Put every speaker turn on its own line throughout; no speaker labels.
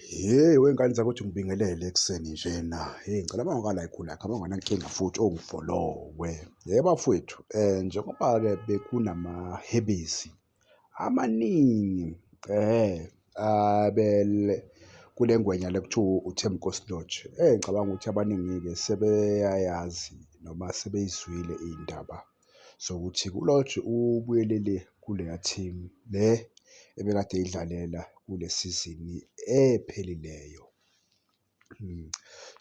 Hheyi wey'ngane zakuthi ngibingelele ekuseni njena. Hheyi ngicela uma ungaka la ekhula yakho, uma unganankinga futhi ongifolowe. Hheyi bafwethu njengoba-ke bekunamahebezi amaningi abele kule ngwenya le kuthiwa uThembinkosi Lorch. Ngicabanga ukuthi abaningi-ke sebeyayazi noma sebeyizwile iy'ndaba. sokuthi uLorch ubuyelele kuleya team le ebekade eyidlalela kule sizini ephelileyo.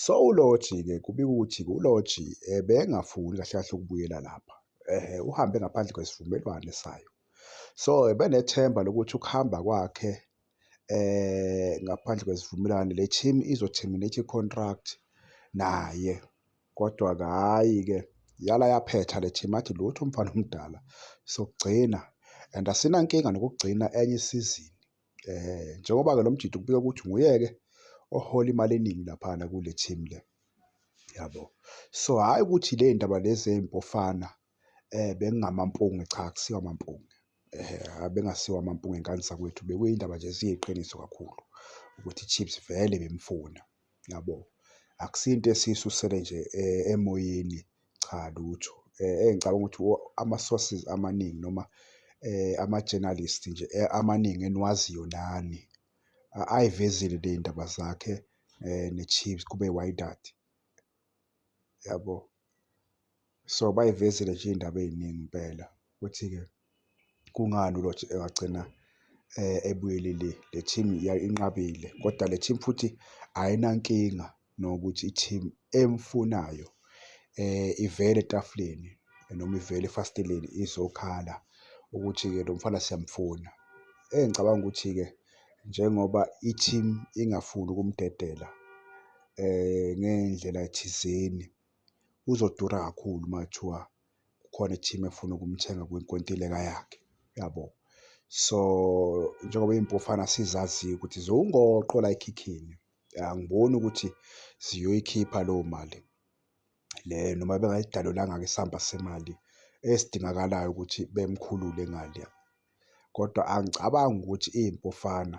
So uLorch-ke kubikwa ukuthi uLorch ebengafuni kahle kahle ukubuyela lapha, uhambe ngaphandle kwesivumelwane sayo. So ebenethemba lokuthi ukuhamba kwakhe ngaphandle kwesivumelwane le team izo-terminate i-contract naye. Kodwa-ke hhayi-ke yala yaphetha le team athi lutho umfana omdala sokugcina and asinankinga nokugcina enye isizini eh njengoba-ke lo mjidi kubika ukuthi nguyeke ohola imali eningi laphana kule team le yabo. So hhayi ukuthi le ndaba lezi zey'mpofana Bekungamampunge, cha akusiwo amampunge bekungasiwo amampunge ngani zakwethu bekuyindaba nje ziyiqiniso kakhulu ukuthi i-Chiefs vele ibimfuna yabo. Akusiyo into esiyisusele nje emoyeni cha lutho engicabanga ukuthi ama-sources amaningi noma ama-journalist nje amaningi eniwaziyo nani ayivezile ley'ndaba zakhe ne-Chiefs kube i-wydad. yabo. So, bayivezile nje iy'ndaba ey'ningi impela ukuthi-ke kungani uLorch engagcina ebuyelele le team inqabile kodwa le team futhi ayinankinga nokuthi i-team emfunayo ivele etafuleni noma ivele efasteleni izokhala ukuthi-ke lo mfana siyamfuna. Engicabanga ukuthi-ke njengoba i-team ingafuni ukumdedela. ngey'ndlela thizeni uzodura kakhulu uma kuthiwa kukhona i-team efuna ukumthenga kwinkontileka yakhe, yabo. So, njengoba iy'mpofana sizaziyo ukuthi ziwungoqo la ekhikhini, angiboni ukuthi ziyoyikhipha leyo mali le noma bengayidalulanga-ke isamba semali esidingakalayo ukuthi bemkhulule ngale. Kodwa angicabangi ukuthi iy'mpofana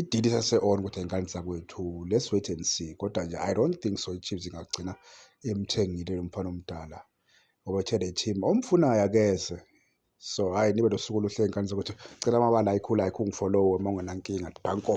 Idili sase-on kodwa ingane zakwethu let's wait and see kodwa nje I don't think so iChiefs ingagcina imthengile lo mfana omdala ngoba uthe le team omfunayo akeze so hhayi nibe nosuku oluhle ngane zakwethu cela amabala ayikhulu ayikhulu ngifollowe uma ungenankinga danko